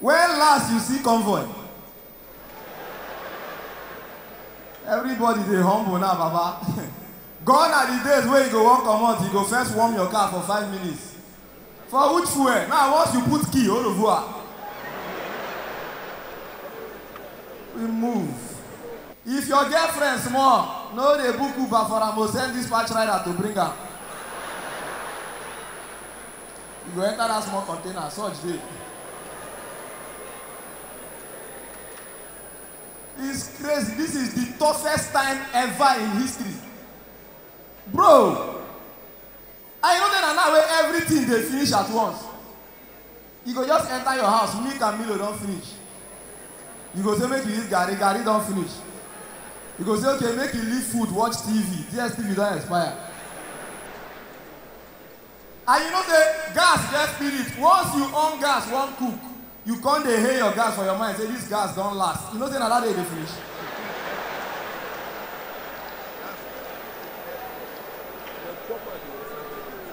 When last you see convoy? Everybody dey humble now baba. Gone are the days wey you go wan comot, you go first warm your car for five minutes. For which fuel? Now once you put key, au revoir. We move. If your girlfriend small, no dey book Uber for am o, send dispatch rider to bring am. You go enter that small container, such day. It's crazy. This is the toughest time ever in history. Bro, I know that now where everything they finish at once. You go just enter your house, milk and Milo don't finish. You go say make you eat Gary, Gary don't finish. You go say okay, make you leave food, watch TV. DSTV don't expire. And you know say gas get spirit, once you on gas wan cook, you come dey hail your gas for your mind say this gas don last, you know say na that day e dey finish.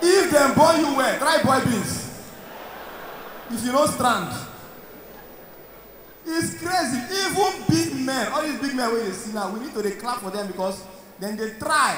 If dem born you well, try boil beans. If you no strand. It's crazy, even big men, all these big men wey you dey see now, we need to dey clap for them because dem dey try.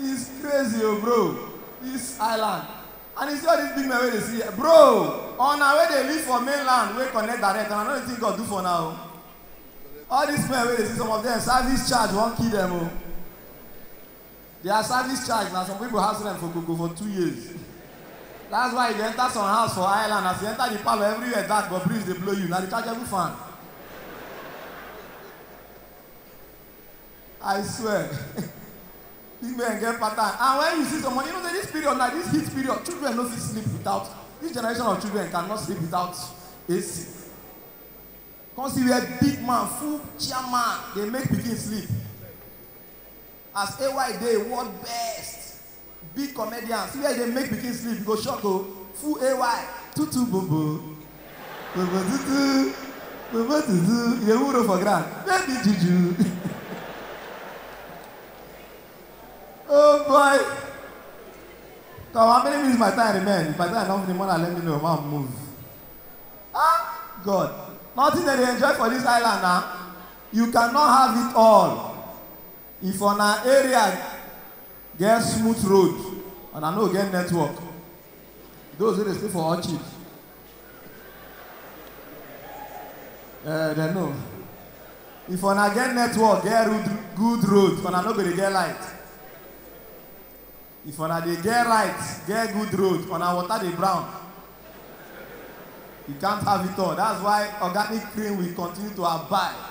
Is crazy o bro this island and you see all this big men wey dey see here bro una wey dey live for main land wey connect direct una no dey think God do for una o all this men wey dey see some of them service charge wan kill them o their service charge na some people house rent for koko for two years that's why you go enter some house for island as you enter the parlour everywhere dark but breeze dey blow you na rechargeable fan. I swear big men get pattern and when you see someone you know say this period na this heat period children no fit sleep without this generation of children cannot sleep without AC come see where big man full chairman dey make pikin sleep as AY dey world best. Big comedian see where e dey make pikin sleep you go shock o full AY tutu bobo bobo tutu bobo tutu e dey wuro for ground baby juju oh boy come how many minutes my time remain if my time don finish mona let me know ma move ah God nothing dem dey enjoy for this island na you cannot have it all if una area Get smooth road and I no get network. Those wey dey stay for Orchid. Eh, dem know. If una get network, get road, good road, una no go dey get light. If una dey get right, get good road, una water dey brown. You can't have it all. That's why organic cream will continue to abide.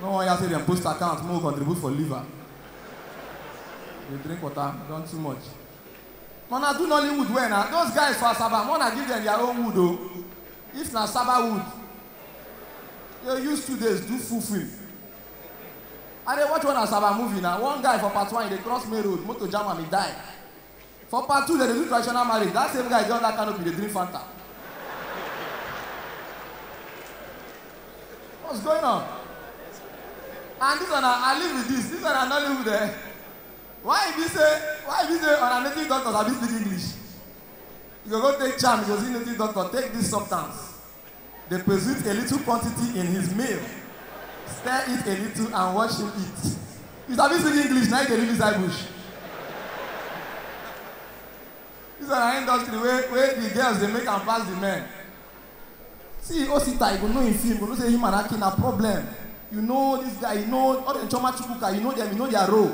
No wan hear say dem boost account make we contribute for liver. Dey drink water, you don too much. But una do Nollywood well na, those guys for Asaba make una give dem their own wood o. If na Saba wood, you use two days do full film. I dey watch one Asaba movie na, one guy for part one e dey cross main road, motor jam am e die. For part two, dem dey do traditional marriage, that same guy dey under canopy dey drink Fanta. What's going on? And this one, I live with this. This one, I not live with them. Why if you say, why if you say, on a native doctor, I be speak English. You go go take charm, you go see native doctor, take this substance. Dey present a little quantity in his meal, stir it a little and watch him eat. You sabi speak English na you dey live inside bush? This one na industry wey wey the girls dey make am pass the men. See Osita you go know him film, you go know say him and Aki na problem. You know this guy, you know all them Chioma Chukwuka, you know them, you know their role.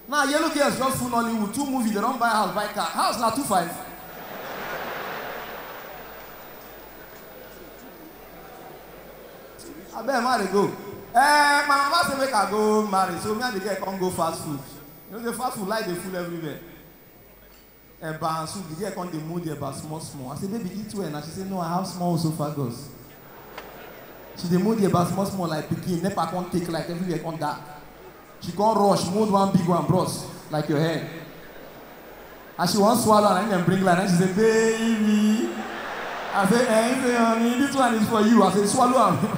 Nah yellow girls just full Nollywood, two movie they don buy house buy car, house na two five. Abeg ma dey go. Eh, my mama say make I go marry, so me and the girl come go fast food. You know the fast food like dey full everywhere. eba and soup, the girl come dey mold the eba small small. I say, baby, eat well na. She say, no, I have small esophagus. She dey mold the eba small small like pikin, nepa come take light, everywhere come dark. She come rush, mold one big one, bros, like your head. As she wan swallow am, na im dem bring light, na im she say, baby. I say, eh, he say, honey, this one is for you. I say, swallow am.